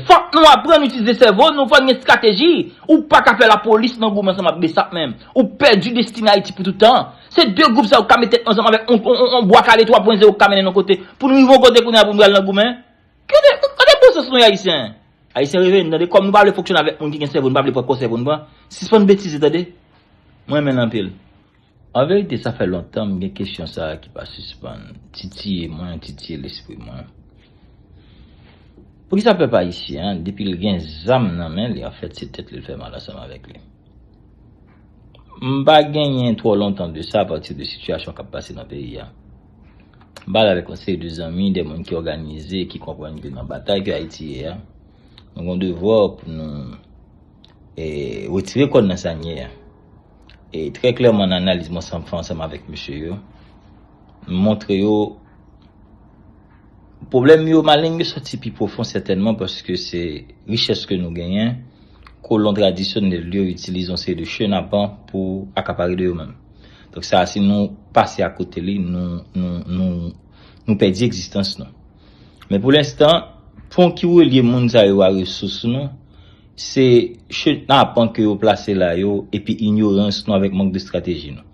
Fòk nou aprann itilize sèvo nou, fòk n gen strateji. Ou pa ka fè lapolis nan goumen ansanm ak bsap menm. Ou pèdi destine Ayiti pou tout tan. Se 2 gwoup sa yo k ka met tèt yo ansanm avèk yon bwa kale 3 pwen zewo k ka mennen n yon kote pou n rive yon kote kounye a pou n pral nan goumen. Kote kote bon sans nou ye Ayisyen? Ayisyen reveye n tande, kòm nou pa vle fonksyone avèk moun ki gen sèvo nou pa vle pran kò sèvo n pran. Sispann betize tande. Mwen renmen l anpil. An verite sa fè lontan m gen kesyon sa ki pa sispann titiye mwen, titiye lespri mwen. Poukisa pèp ayisyen an depi l gen zam nan men li anfèt se tèt li l fè mal ansanm avèk li? M pa genyen twò lontan de sa apati de sitiyasyon k ap pase nan peyi a. M pale avèk yon seri de zanmi, de moun ki òganize, ki konprann ke nan batay ke Ayiti ye a, nou gen yon devwa pou nou retire kò n nan sa n ye a. E trè klèman nan analiz mwen fè ansanm avèk mesye yo, m montre yo pwoblèm yo, maleng yo sòti pi pwofon sètènman paske se richès ke nou genyen, kolon tradisyonèl yo itilize yon seri de chenapan pou akapare de yo menm. Donk sa a si nou pase akote li, nou pèdi egzistans nou. Men pou lenstan, pon ki relye moun sa yo a resous nou, Se chenapant ke yo plase la yo epi inyorans nou avèk mank de strateji nou.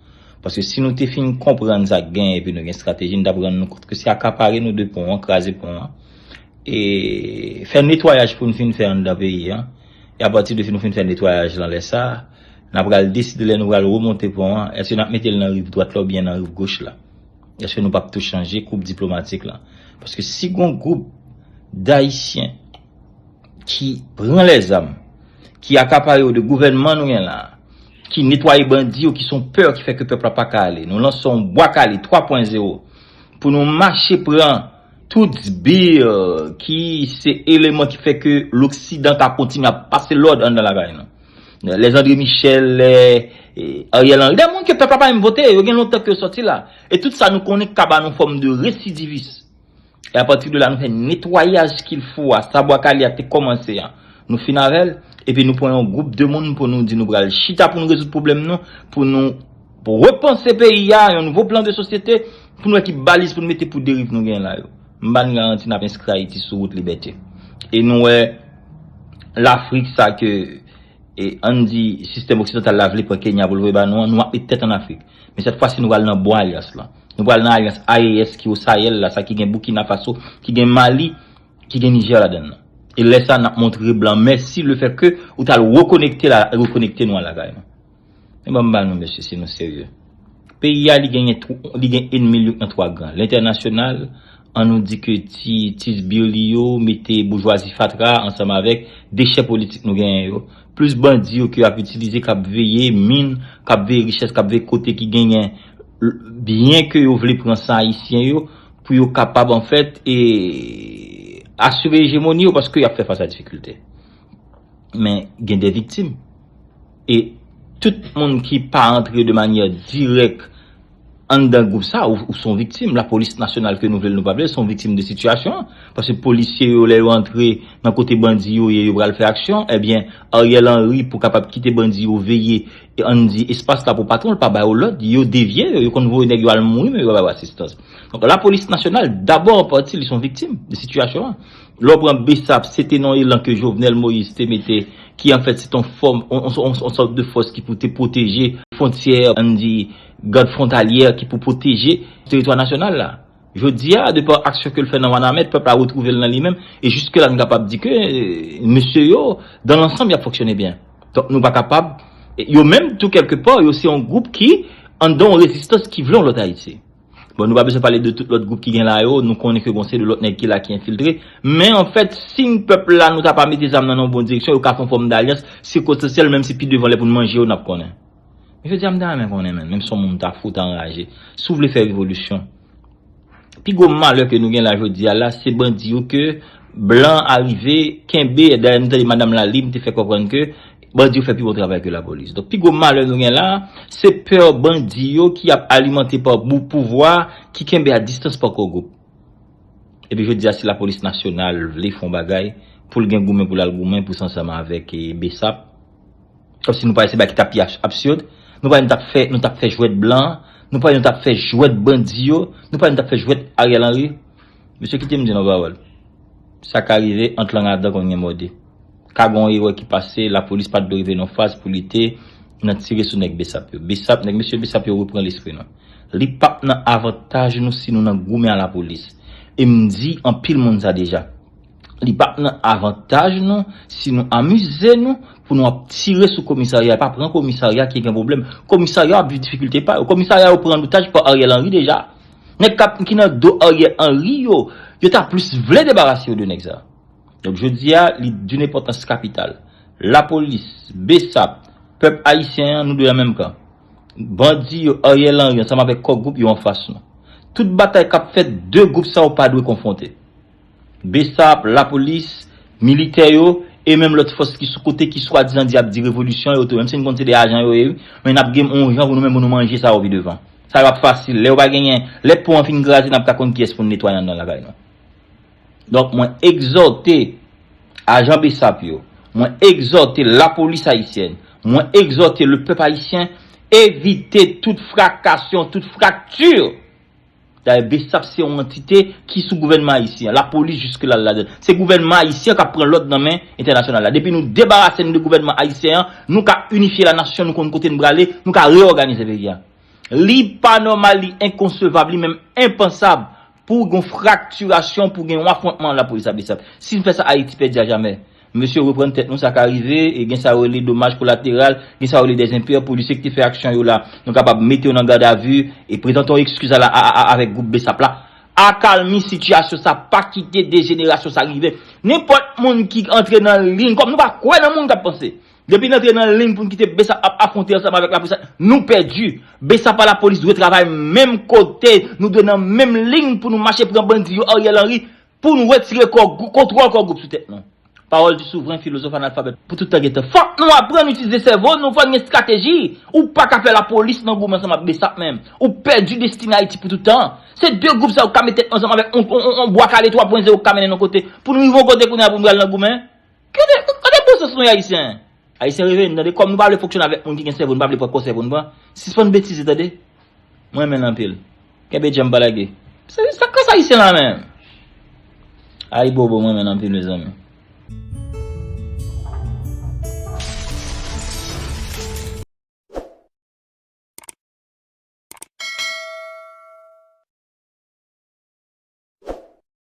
Paske si nou te fin konprann sa k genyen epi nou gen strateji nou t ap rann nou kont ke se akapare nou de pon an, kraze pon an, e fè netwayaj pou nou fin fè anndan peyi an. E apati de nou fin fè netwayaj lan lè sa, n ap pral deside lè nou pral remonte pon an, èske n ap mete l nan riv dwat la oubyen nan riv goch la. Èske nou p ap tou chanje koup diplomatik lan. Paske si gon gwoup dayisyen. ki pran lèzam, ki akapare yo de gouvènman nou gen la, ki netwaye bandi yo ki son pè ki fè ke pèp la pa ka ale. Nou lanse yon Bwa Kale 3 pwen zewo pou nou mache pran tout sbir ki se eleman ki fè ke loksidan ka kontinye ap pase lòd anndan lakay nou. Les André Michel, lè Ariel Henry, dè moun ke pèp la pa menm vote, yo gen lontan ke yo sòti la. E tout sa nou konnen ka ba nou fòm de residivis. E apati de la nou fè netwayaj kil fo a, sa bwa kale a te kòmanse an, nou fin avèl, epi nou pran yon gwoup de moun pou nou di nou pral chita pou nou rezoud pwoblèm nou, pou nou repanse peyi a, yon nouvo plan de sosyete, pou nou wè ki baliz pou nou mete pou deriv nou genyen la yo. M ba n garanti n ap enskri Ayiti sou wout libète. E nou wè Lafrik sa ke. E ann di sistèm oksidantal la vle pran Kenya pou l voye ba nou an, nou ap met tèt ann Afrik. Men sèt fwasi nou pral nan bon alyans lan. Nou pral nan alyans AES ki o Sayèl la, sa ki gen Boukina Faso, ki gen Mali, ki gen Nijè ladann nan. E lè sa a n ap montre blan mèsi lefètke ou t al rekonekte l a rekonekte nou al lakay nou. Men banm ba nou mesye si nou serye. Peyi a li genyen twou li gen enmi l yo an twa gran. Lentènasyonal, an nou di ke ti ti sbir li yo mete boujwazi fatra a ansanm avèk dechè politik nou genyen yo, plis bandi yo ke yo ap itilize k ap veye min, k ap veye richès, k ap veye kote ki genyen byen ke yo vle pran san ayisyen yo pou yo kapab anfèt e asire ejemoni yo paske y ap fè fas a difikilte. Men gen de viktim. E tout moun ki pa antre de manyè dirèk anndan gwoup sa, ou son viktim. Lapolis nasyonal ke nou vle l nou pa vle l, son viktim de sitiyasyon an. Paske polisye yo lè yo antre nan kote bandi yo ye yo pral fè aksyon, ebyen Ariel Henry pou kapab kite bandi yo veye ann di espas la pou patwon l pa ba yo lòd, yo devye yo, yo konn voye nèg yo al mouri men yo pa ba yo asistans. Donk lapolis nasyonal dabò an pati li son viktim de sitiyasyon an. Lè w pran Bsap, se te yon elan ke Jovenel Moïse te mete, ki an fèt se te yon fòm, yon sòt de fòs ki pou te pwoteje fwontyè, an n di gad fwontalyè ki pou pwoteje teritwa nasyonal la. Jodi a, de pa aksyon ke l fè nan Wanament, pèp la retwouve l nan li menm, e jiske la n kapab di ke mesye yo, dan lansanm y ap fonksyone byen. Donk nou pa kapab, yo menm tou kèlke pa, yo se yon gwoup ki anndan yon rezistans ki vle yon lòt Ayiti. Bon nou pa bezwen pale de tout lòt gwoup ki gen la yo, nou konnen ke bon se de lòt nèg ki la ki enfiltre, men an fèt si n pèp la nou ta pa mete zam nan nan bon direksyon yo ka fè yon fòm dalyans sikotansyèl menm si pi devan lè pou n manje yo n ap konnen. Men jodi a m ta renmen konnen menm, menm si w moun m ta fout anraje, si w vle fè revolisyon, pi gwo malè ke nou gen la jodi a la se bandi yo ke blan an arive kenbe, dayè nou tande madam Lalim te fè konprann ke Bandi yo fè pi bon travay ke lapolis. Donk pi gwo malè nou gen la, se pè bandi yo ki ap alimante pa bou pouvwa ki kenbe a distans pa kò gwoup. Epi jodi a si lapolis nasyonal vle fon bagay, pou l gen goumen pou l al goumen pou s ansanm avèk bsap. Kòm si nou pare se bagay ki ta pi absurd. Nou pare nou t ap fè nou t ap fè jwèt blan, nou pare nou t ap fè jwèt bandi yo, nou pare nou t ap fè jwèt Ariel Henry. Mesye kite m di yon pawòl, sa ka rive ant lang a dan konn gen mòde. Ka gen yon erè ki pase, lapolis pa t dwe rive nan yon faz pou li te nan tire sou nèg bsap yo. Bsap, nèg mesye bsap yo repran lespri nou. Li pa p nan avantaj nou si nou nan goumen a lapolis. E m di anpil moun sa deja. Li pa p nan avantaj nou si nou amize nou pou nou ap tire sou komisarya e pa pran komisarya ki gen pwoblèm. Komisarya yo ap viv difikilte pa yo. Komisarya yo pran an otaj pa Ariel Henry deja. Nèg kap ki nan do Ariel Henry yo, yo ta plis vle debarase yo de nèg sa. Donk jodi a li d'une enpòtans kapital. Lapolis, bsap, pèp ayisyen an nou dwe nan menm kan. Bandi yo, Ariel Henry ansanm avèk Kò Gwoup yo anfas nou. Tout batay kap fèt 2 gwoup sa yo pa dwe konfwonte. Bsap, lapolis, militè yo, e menm lòt fòs ki sou kote ki swadizan di y ap di revolisyon yo tou, menm si n konn se de ajan yo ye wi, men n ap genm on jan pou nou menm pou nou manje sa yo pi devan. Sa yo ap fasil. Lè yo pa genyen, lè pon an fin kraze n ap ka konn kiyès pou n netwaye anndan lakay nou. Donk mwen egzòte ajan bsap yo, mwen egzòte lapolis ayisyèn, mwen egzòte lepèp ayisyen evite tout frakasyon, tout frakti! Dayè bsap se yon antite ki sou gouvènman ayisyen, lapolis jiske la l ladann. Se gouvènman ayisyen k ap pran lòd nan men entènasyonal la. Depi nou debarase n de gouvènman ayisyen an, nou ka inifye lanasyon, nou konn kote n prale, nou ka reyòganize peyi a. Li pa nòmal, li enkonsevab, li menm enpansab pou gen yon fraktirasyon, pou gen yon afwontman an lapolis a bsap. Si n fè sa Ayiti pèdi ajamè. Mesye reprann tèt nou sa ka rive e gen sa yo rele domaj kolateral, gen sa yo rele des impairs pou lycée ki te fè aksyon yo la nou kapab mete yo nan garde à vue e prezante yon ekskiz a la a a a avèk gwoup bsap la. Akalmi sitiyasyon sa pa kite dejenerasyon sa rive nenpòt moun ki antre nan liyn kòm nou pa kwè nan moun kap panse depi n antre nan liyn pou n kite bsap ap afwonte ansanm avèk lapolis nou pèdi bsap a lapolis dwe travay menm kote nou dwe nan menm liyn pou nou mache pran bandi yo Ariel Henry Pou nou retire kò gwou, kontwòl kò gwoup sou tèt nou. Pawòl di souvren filozòf analfabèt pou tout tan gen tan. Fòk nou aprann itilize sèvo nou, fò n gen estrateji. Ou pa ka fè lapolis nan goumen ansanm ak bsap menm. Ou pèdi destine Ayiti pou tout tan. Se de gwoup sa yo k ka met tèt yo ansanm avèk on, on, on bwa kale twa pwen zewo k ka mennen n on kote, pou nou rive on kote kounye a pou n pral nan goumen. Kote, kote bon sans nou ye Ayisyen? Ayisyen reve nou tande, kòm nou pa vle fonksyone avèk moun ki gen sèvo nou pa vle pran konsèy pou nou pran, sispann betize tande. M renmen l anpil. Kenbe djanm pa lage. Sak ras ayisyen la menm? Ayibobo m renmen l anpil mezanmi.